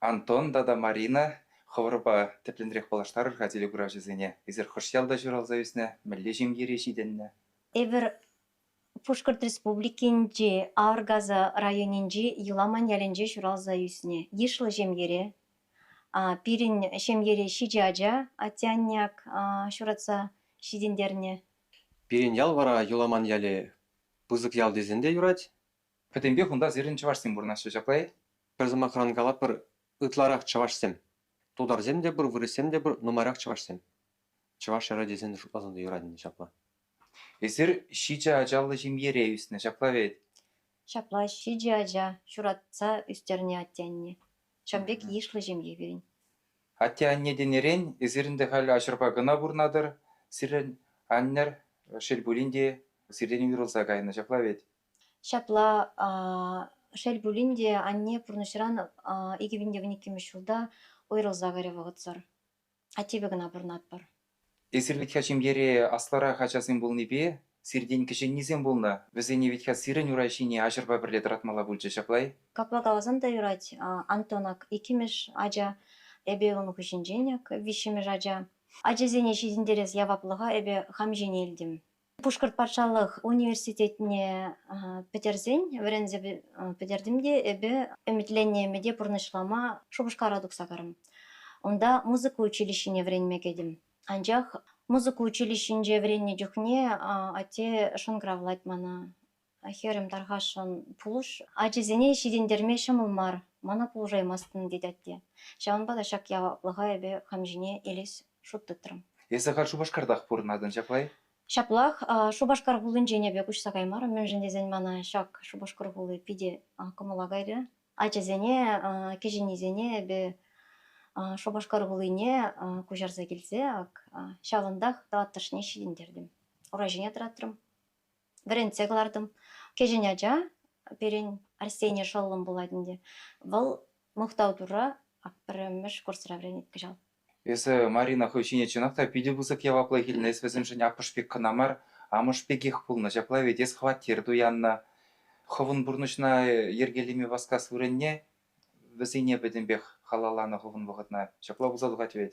Антон тата Марина хӑвӑрпа тӗплӗнрех паллаштарӑр-ха телекуравҫӑсене. Эсир хӑш ялта ҫуралса ӳснӗ, мӗнле ҫемьере ҫитӗннӗ? Эпир Пушкӑрт Республикинчи Аргаза районӗнчи Еламан ялӗнче ҫуралса ӳснӗ. Йышлӑ ҫемьере. Пирӗн ҫемьере ҫичӗ ача, атте-анне ак ҫуратса ҫитӗнтернӗ. Пирӗн ял вара Еламан ялӗ пысӑк ял тесен те юрать. Пӗтӗмпех унта сирӗн чӑвашсем пурӑнаҫҫӗ, ҫапла-и? Пӗр сӑмахран калатпӑр, ытларах чӑвашсем. Тутарсем те пур, вырӑссем те пур, нумайрах чӑвашсем. Чӑваш ҫӗрӗ тесен шутласан та юратнӑ ҫапла. Эсир ҫичӗ ачаллӑ ҫемьере ӳснӗ, ҫапла вӗт? Ҫапла, ҫичӗ ача, ҫуратса ӳстернӗ атте-анне. Ҫавӑн пек йышлӑ ҫемье пирӗн. Атте-анне тенӗрен, эсир ӗнтӗ халь аҫӑрпа кӑна пурӑнатӑр. Сирӗн аннӗр, шел пулин те, сиртен уйрӑлса кайнӑ, ҫапла вӗт? Ҫапла шел пулин те анне пурнӑҫран икӗ пин те вун иккӗмӗш ҫулта уйрӑлса кайрӗ вӑхӑтсӑр. Аттепе кӑна пурӑнатпӑр. Эсир ветка ҫемьере аслӑрах ачасем пулнипе сиртен кӗҫӗннисем пулнӑ. Вӗсене ветка сирӗн ура ҫине аҫӑрпа пӗрле тӑратмалла пулчӗ ҫаплай? Капла каласан та юрать, Антон ак иккӗмӗш ача, эпӗ ун хыҫӗнчен ак виҫҫӗмӗш ача. Ачасене ҫитӗнтерес яваплӑха эпӗ хам ҫине илтӗм. Пушкӑрт патшалӑх университетне пӗтерсен вӗренсе пӗтертӗм те эпӗ ӗмӗтленнӗ ӗмӗте пурнӑҫлама шупашкара тухса карӑм. Унта музыка училищине вӗренме кӗтӗм. Анчах музыка училищинче вӗреннӗ чухне атте шӑнкӑравлать мана, Хӗрӗм, тархасшӑн пулӑш, ачисене ҫитӗнтерме ҫӑмӑл мар, мана пулӑшаймастӑн, тет атте. Ҫавӑнпа та ҫак яваплӑха эпӗ хам ҫине илес шут тытрӑм. Эсӗ халь Шупашкартах пурӑнатӑн ҫаплай? Ҫаплах. Шупашкар хулинчен эпӗ куҫса каймарӑм, мӗншӗн тесен мана ҫак Шупашкар хули питӗ кӑмӑла кайрӗ. Ачасене, кӗҫӗннисене эпӗ Шупашкар хулине куҫарса килсе ҫавӑнтах тӑваттӑшне ҫитӗнтертӗм, ура ҫине тӑратрӑм. вӗрентсе кӑлартӑм. Кӗҫӗн ача пирӗн Арсений шӑллӑм пулать ӗнтӗ. Вӑл Мухтав Турра пӗрремӗш курсра вӗренет кӑҫал. Эсӗ, Марина, хӑй ҫине чӑнах та питӗ пысӑк яваплӑх илнӗ, эс вӗсемшӗн аппӑш пек кӑна мар, амӑш пекех пулнӑ. Ҫапла вӗт, эс хваттер туяннӑ. Хӑвӑн пурнӑҫна йӗркелеме васкас вырӑнне вӗсене пӗтӗмпех халалланӑ хӑвӑн вӑхӑтна. Ҫапла пулса тухать вӗт.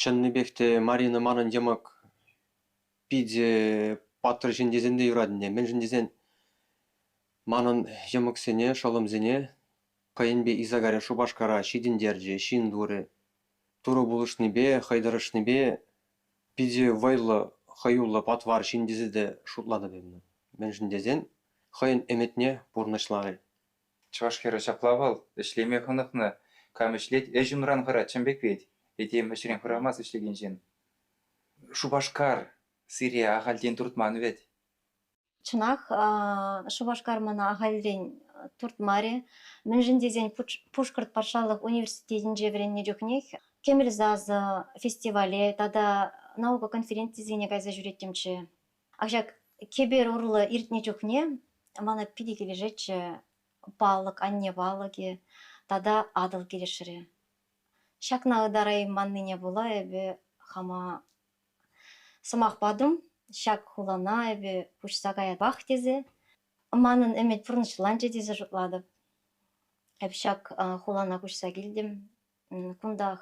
Чӑннипех те Марина манӑн йӑмӑк питӗ паттӑр ҫын тесен те юратнӑ. Мӗншӗн тесен манӑн йӑмӑксене, шӑллӑмсене хӑйӗн пек Исагари Шупашкара ҫитӗнтерчӗ, ҫын турӗ. Турӑ пулӑшнипе, хӑй тӑрӑшнипе питӗ вӑйлӑ, хӑюллӑ, патвар ҫын тесе те шутлатӑп эпӗ. Мӗншӗн тесен хӑйӗн ӗмӗтне пурнӑҫларӗ. Чӑваш хӗрӗ ҫапла вӑл, ӗҫлеме хӑнӑхнӑ, кам ӗҫлет, ӗҫ унран хӑрать чӑн пек вет, этем ӗҫрен хӑрамасть ӗҫлекен ҫын. Шупашкар сире ахальтен туртман вӗт. Чӑнах, Шупашкар мана ахальтен туртмарӗ. Мӗншӗн тесен Пушкӑрт патшалӑх университетӗнче вӗреннӗ чухнех Кӗмӗл сасӑ фестивале тата наука конференцисене кайса ҫӳреттӗмччӗ. Ак ҫак кӗпер урлӑ иртнӗ чухне мана питӗ килӗшетчӗ палӑк, анне палӑкӗ тата Атӑл килӗшрӗ. Ҫакна ытарайманнине пула эпӗ хама сӑмах патӑм. Ҫак хулана эпӗ куҫса каятпах тесе манӑн ӗмӗт пурнӑҫланчӗ тесе шутлатӑп. Эп ҫак хулана куҫса килтӗм. Кунтах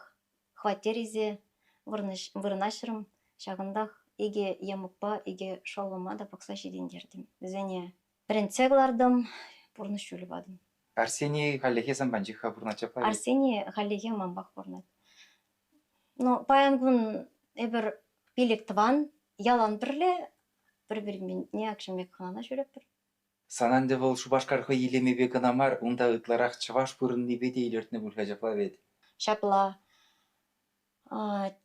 Хваттере вырнаҫрӑм. Ҫакӑнтах икӗ йӑмӑкпа икӗ шӑллӑма та пӑхса ҫитӗнтертӗм. Вӗсене вӗрентсе кӑлартӑм, пурнӑҫ ҫулӗ патӑм. Арсений хальлӗхе сан панчӑх-ха пурӑнать ҫапла. Арсений хальлӗхе манпах пурӑнать. Ну, паян кун эпир пилӗк тӑван, ялан пӗрле пӗр-пӗринпе акшӑн пек хӑнана ҫӳретпӗр. Сан ӗнтӗ вӑл Шупашкар хӑй илемӗпе кӑна мар, унта ытларах чӑваш пурӑннипе те илӗртнӗ пуль-ха ҫапла вӗт? Ҫапла.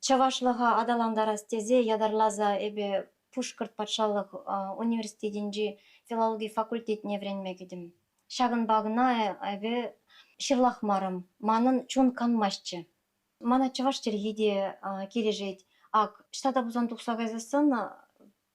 Чӑвашлӑха аталантарас тесе ятарласа эпӗ Пушкӑрт патшалӑх университетӗнчи филологи факультетне вӗренме кӗтӗм. Ҫакӑнпа кӑна эпӗ ҫырлахмарӑм, манӑн чун канмастчӗ. Мана чӑваш чӗлхи те килӗшет. Ак, ҫтата пулсан тухса кайсассӑн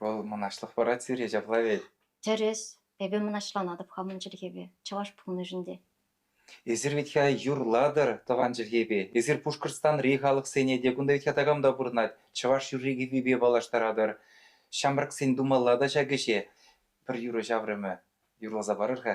Вӑл мӑнаҫлӑх парать сире, ҫапла вӗт? Тӗрӗс. Эпӗ мӑнаҫланатӑп хамӑн чӗлхепе, чӑваш пулнишӗн те. Эсир вӗт-ха юрлатӑр тӑван чӗлхепе. Эсир Пушкӑртстанри халӑхсене те, кунта вӗт-ха такам та пурӑнать, чӑваш юрри-кӗввипе паллаштаратӑр. Ҫамрӑксен тумалла та ҫак ӗҫе. Пӗр юрӑ ҫаврӑмӗ. Юрласа парӑр-ха.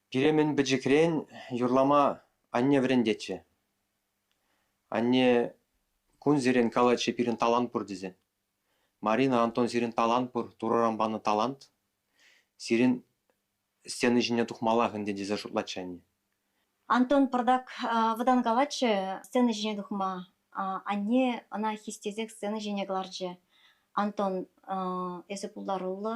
Пире мӗн пӗчӗкрен юрлама анне вӗрентетчӗ. Анне кунсерен калатчӗ пирӗн талант пур тесе. Марина, Антон сирӗн талант пур, Турӑран панӑ талант. Сирӗн стена ҫине тухмаллах ӗнтӗ тесе шутлатчӗ анне. Антон пӑртак вӑтанкалатчӗ сцена ҫине тухма. Анне ӑна хистесех сцена ҫине кӑларчӗ. Антон, эсӗ пултаруллӑ.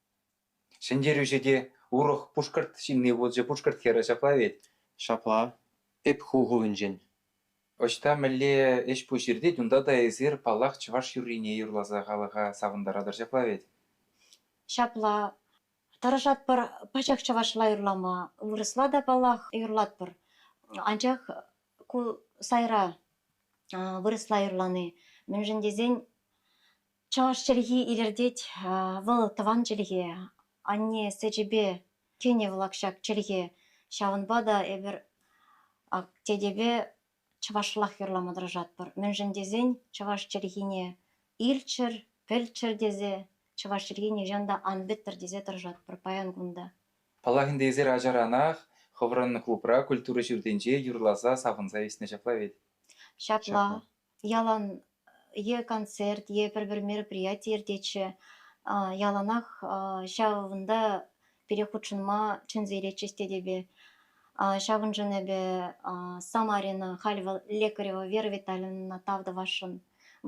Ҫӗнтерӳҫӗ те урӑх пушкӑрт ҫынни пулчӗ пушкӑрт хӗрӗ ҫапла вӗт. Ҫапла, эп ху хулӗнчен. Ӑҫта мӗнле ӗҫ-пуҫ иртет, унта та эсир, паллах, чӑваш юррине юрласа халӑха савӑнтаратӑр ҫапла вӗт. Ҫапла, тӑрӑшатпӑр пачах чӑвашла юрлама. Вырӑсла та, паллах, юрлатпӑр. Анчах ку сайра вырӑсла юрлани мӗншӗн тесен Чӑваш чӗлхи илӗртет. Вӑл тӑван чӗлхе. Анне сечӗпе кӗнӗ вӑл ак ҫак чӗлхе. Ҫавӑнпа та эпир ак тетепе чӑвашлах юрлама тӑрӑшатпӑр. Мӗншӗн тесен чӑваш чӗлхине илччӗр, пӗлччӗр тесе, чӑваш чӗлхи нихҫан та ан пӗттӗр тесе тӑрӑшатпӑр паян кун та. Паллах ӗнтӗ, эсир ачаранах хӑвӑрӑн клубра культура ҫуртӗнче юрласа савӑнса ӳснӗ ҫапла вӗт? Ҫапла. ялан е концерт, е пӗр-пӗр мероприяти иртетчӗ. яланах ҫавӑнта пире хутшӑнма чӗнсе илетчӗҫ тетепе. ҫавӑншӑн эпӗ самарина халь вӑл лекарева вера витальевнӑна тав тӑвасшӑн.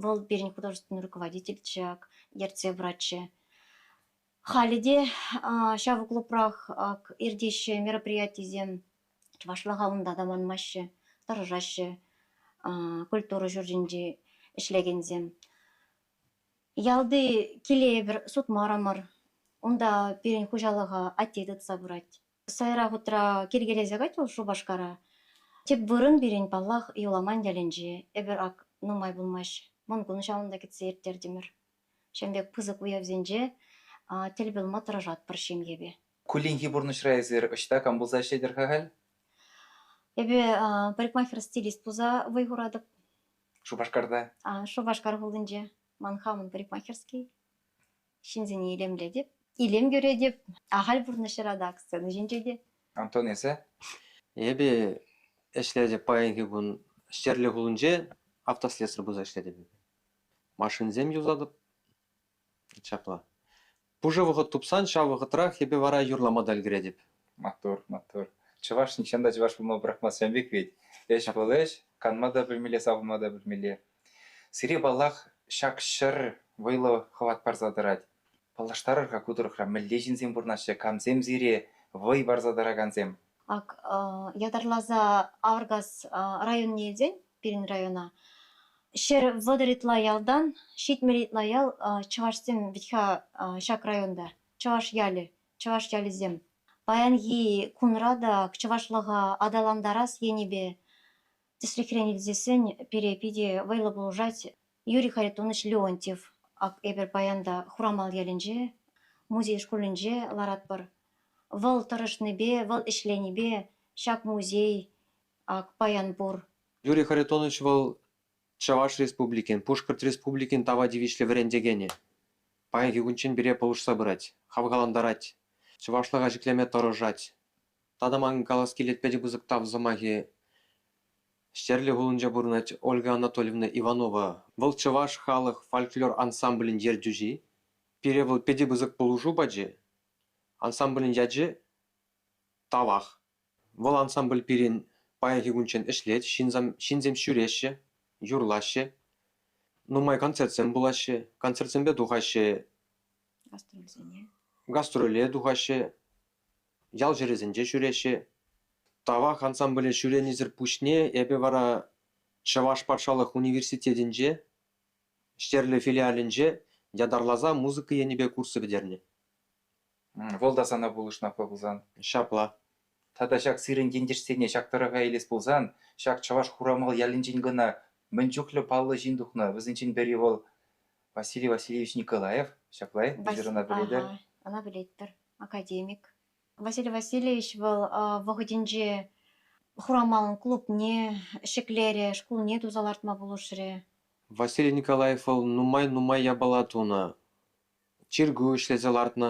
вӑл пирӗн художественный руководитель ҫак ертсе пыратчӗ. Халӗ те ҫав клубрах иртеҫҫӗ мероприятисем. Чӑвашлӑха унта та манмаҫҫӗ, тӑрӑшаҫҫӗ культура ҫуртӗнче ӗҫлекенсем. Ялти килейӗпӗр сутмарӑмӑр. Унта пирӗн хуҫалӑха атте тытса пырать. Сайра хутра килкелесе кать вӑл Шупашкара. Тӗп вырӑн пирӗн, паллах, Юламан ялӗнче. Эпир ак нумай пулмасть Мӑнкун ҫавӑнта кӗтсе ирттертӗмӗр. Ҫавӑн пек пысӑк уявсенче тӗл пулма тӑрӑшатпӑр ҫемьепе. Кулленхи пурнӑҫра эсир ӑҫта кам пулса ӗҫлетӗр-ха халь? Эпӗ парикмахер стилист пулса вӑй хуратӑп. Шупашкарта? Шупашкар хулинче. Ман хамӑн парикмахерский. Ҫынсене илемлетӗп. Илем кӳретӗп. Ахаль пурнӑҫра та, сцена ҫинче те. Антон, эсӗ? Эпӗ ӗҫлетӗп паянхи кун Ҫтерлӗ хулинче автослесарь пулса ӗҫлетӗп. Машинсем юсатӑп. Ҫапла. Пушӑ вӑхӑт тупсан ҫав вӑхӑтрах эпӗ вара юрлама та ӗлкӗретӗп. Маттур, маттур. Чӑваш нихҫан та чӑваш пулма пӑрахмастсем пек вӗт. Ӗҫ вӑл ӗҫ, канма та пӗлмелле, савӑнма та пӗлмелле. Сире, паллах, ҫак ҫӗр вӑйлӑ хӑват парса тӑрать. Паллаштарӑр-ха ку тӑрӑхра мӗнле ҫынсем пурӑнаҫҫӗ, камсем сире вӑй парса тӑракансем? Ак, ятарласа Авӑркас районӗнчен пирӗн района, ҫӗр вӑтӑр ытла ялтан, ҫитмӗл ытла ял чӑвашсем вӗт-ха ҫак районта, чӑваш ялӗ, чӑваш ялӗсем. Паянхи кунра та чӑвашлӑха аталантарас енӗпе Тӗслӗхрен илтсен, пире питӗ вӑйлӑ пулӑшать Юрий Харитонович Леонтьев. Ак эпир паян та Хурамал ялӗнче, музей шкулӗнче ларатпӑр. Вӑл тӑрӑшнипе, вӑл ӗҫленипе ҫак музей ак паян пур. Юрий Харитонович вӑл Чӑваш Республикин, Пушкӑрт Республикин тава тивӗҫлӗ вӗрентекенӗ. Паянхи кунччен пире пулӑшса пырать, хавхалантарать, чӑвашлӑха ҫӗклеме тӑрӑшать. Тата ман калас килет питӗ пысӑк тав сӑмахӗ Ҫтерлӗ хулинче пурӑнать Ольга Анатольевна Иванова. Вӑл чӑваш халӑх фольклор ансамблӗн ертӳҫи. Пире вӑл питӗ пысӑк пулӑшу пачӗ. Ансамблӗн ячӗ Тавах. Вӑл ансамбль пирӗн паянхи кунччен ӗҫлет, ҫынсем ҫӳреҫҫӗ, юрлаҫҫӗ, нумай концертсем пулаҫҫӗ. Концертсемпе тухаҫҫӗ гастрольсене. Гастроле тухаҫҫӗ. ял ҫӗрӗсенче ҫӳреҫҫӗ. Тавах ансамбле ҫӳренисӗр пуҫне эпӗ вара Чӑваш патшалӑх университетӗнче Ҫтерлӗ филиалӗнче ятарласа музыка енӗпе курс пӗтернӗ. Вӑл та сана пулӑшнӑ апла пулсан. Ҫапла. Тата ҫак сирӗн ентешсене ҫак тӑрӑха илес пулсан, ҫак чӑваш Хурамал ялӗнчен кӑна мӗн чухлӗ паллӑ ҫын тухнӑ. Вӗсенчен пӗри вӑл Василий Васильевич Николаев, ҫапла визирӑна пӗлетӗр? Ӑна пӗлетпӗр, академик. Василий Васильевич вӑл вӑхӑтӗнче Хурамалӑн клубне ҫӗклерӗ, шкулне туса лартма пулӑшрӗ. Василий Николаев вӑл нумай-нумай япала тунӑ, чиркӳ ӗҫлесе лартнӑ.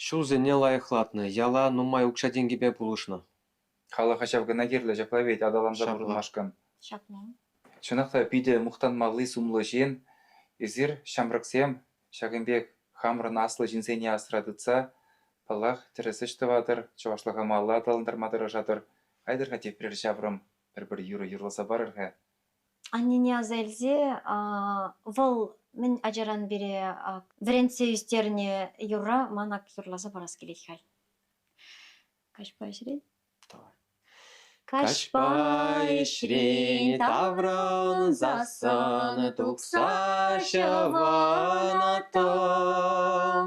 Ҫулсене лайӑхлатнӑ, яла нумай укҫа-тенкӗпе пулӑшнӑ. Халӑха ҫав кӑна кирлӗ, ҫапла вӗт аталанса Ҫапла. пурӑнмашкӑн. Ҫакна. Чӑнах та питӗ мухтанмалли-сумлӑ ҫын эсир, ҫамрӑксем. Ҫакӑн пек хамӑрӑн аслӑ ҫынсене асра тытса, паллах, тӗрӗс ӗҫ тӑватӑр, чӑвашлӑха малалла аталантарма тӑрӑшатӑр. Айтӑр-ха тепрер ҫаврӑм, пӗр-пӗр юрӑ юрласа парӑр-ха. Аннене аса илсе вӑл мӗн ачаран пире вӗрентсе ӳстернӗ юрра ман ак юрласа парас килет халь. Каҫпа ӗҫрен. Каҫпа ӗҫрен таврӑнсассӑн тупса ҫӑвӑнӑттӑм.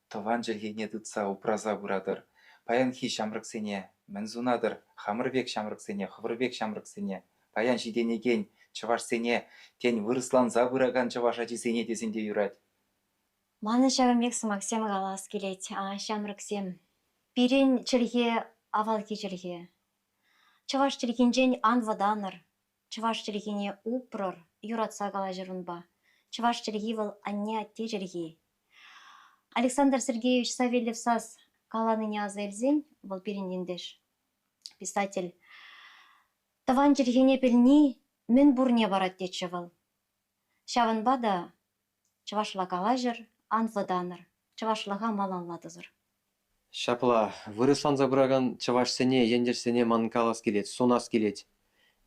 Тӑван чӗлхене тытса упраса пыратӑр. Паянхи ҫамрӑксене мӗн сунатӑр? Хамӑр пек ҫамрӑксене, хӑвӑр пек ҫамрӑксене, паян ҫитӗнекен чӑвашсене, тен, вырӑсланса пыракан чӑваш ачисене тесен те юрать. Манӑн ҫавӑн пек сӑмахсем калас килет, ҫамрӑксем. Пирӗн чӗлхе, авалхи чӗлхе. Чӑваш чӗлхинчен ан вӑтанӑр, Чӑваш чӗлхине упрӑр, юратса калаҫӑр унпа. Чӑваш чӗлхи вӑл анне-атте чӗлхи. Александр Сергеевич Савельев сас каланине аса илсен вӑл пирӗн ентеш, писатель. Тӑван чӗлхене пӗлни мӗн пурне парать тетчӗ вӑл. Ҫавӑнпа та Чӑвашла калаҫӑр, ан вӑтанӑр, чӑвашлӑха малалла тӑсӑр. Ҫапла, вырӑсланса пыракан чӑвашсене, ентешсене ман калас килет, сунас килет.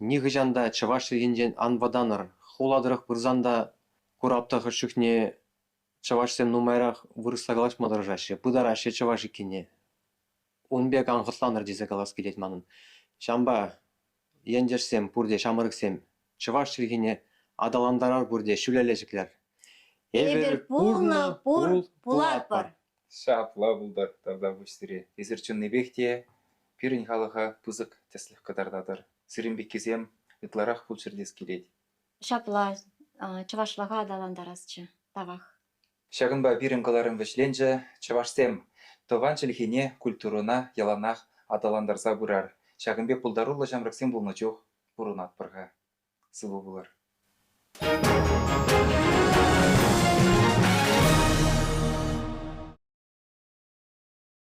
Нихӑҫан та чӑваш чӗлхинчен ан вӑтанӑр. Хула тӑрӑх пырсан та курап-та хӑш чухне чӑвашсем нумайрах вырӑсла калаҫма тӑрӑшаҫҫӗ, пытараҫҫӗ чӑваш иккенне. ун пек ан хӑтланӑр тесе калас килет манӑн. Ҫавӑнпа ентешсем пурте ҫамрӑксем чӑваш чӗлхине аталантарар пурте ҫӳлелле Эпир пулнӑ, пур, пулатпӑр. Ҫапла пултӑр тата пуҫ сире. Эсир чӑннипех те пирӗн халӑха пысӑк тӗслӗх кӑтартатӑр. Сирӗн пеккисем ытларах пулччӑр тес килет. Ҫапла, чӑвашлӑха аталантарасчӗ тавах. Ҫакӑнпа пирӗн кӑларӑм вӗҫленчӗ, чӑвашсем тӑван чӗлхене, культурӑна яланах аталантарса пырар, ҫакӑн пек пултаруллӑ ҫамрӑксем пулнӑ чух пурӑнатпӑр-ха. Сывӑ пулӑр.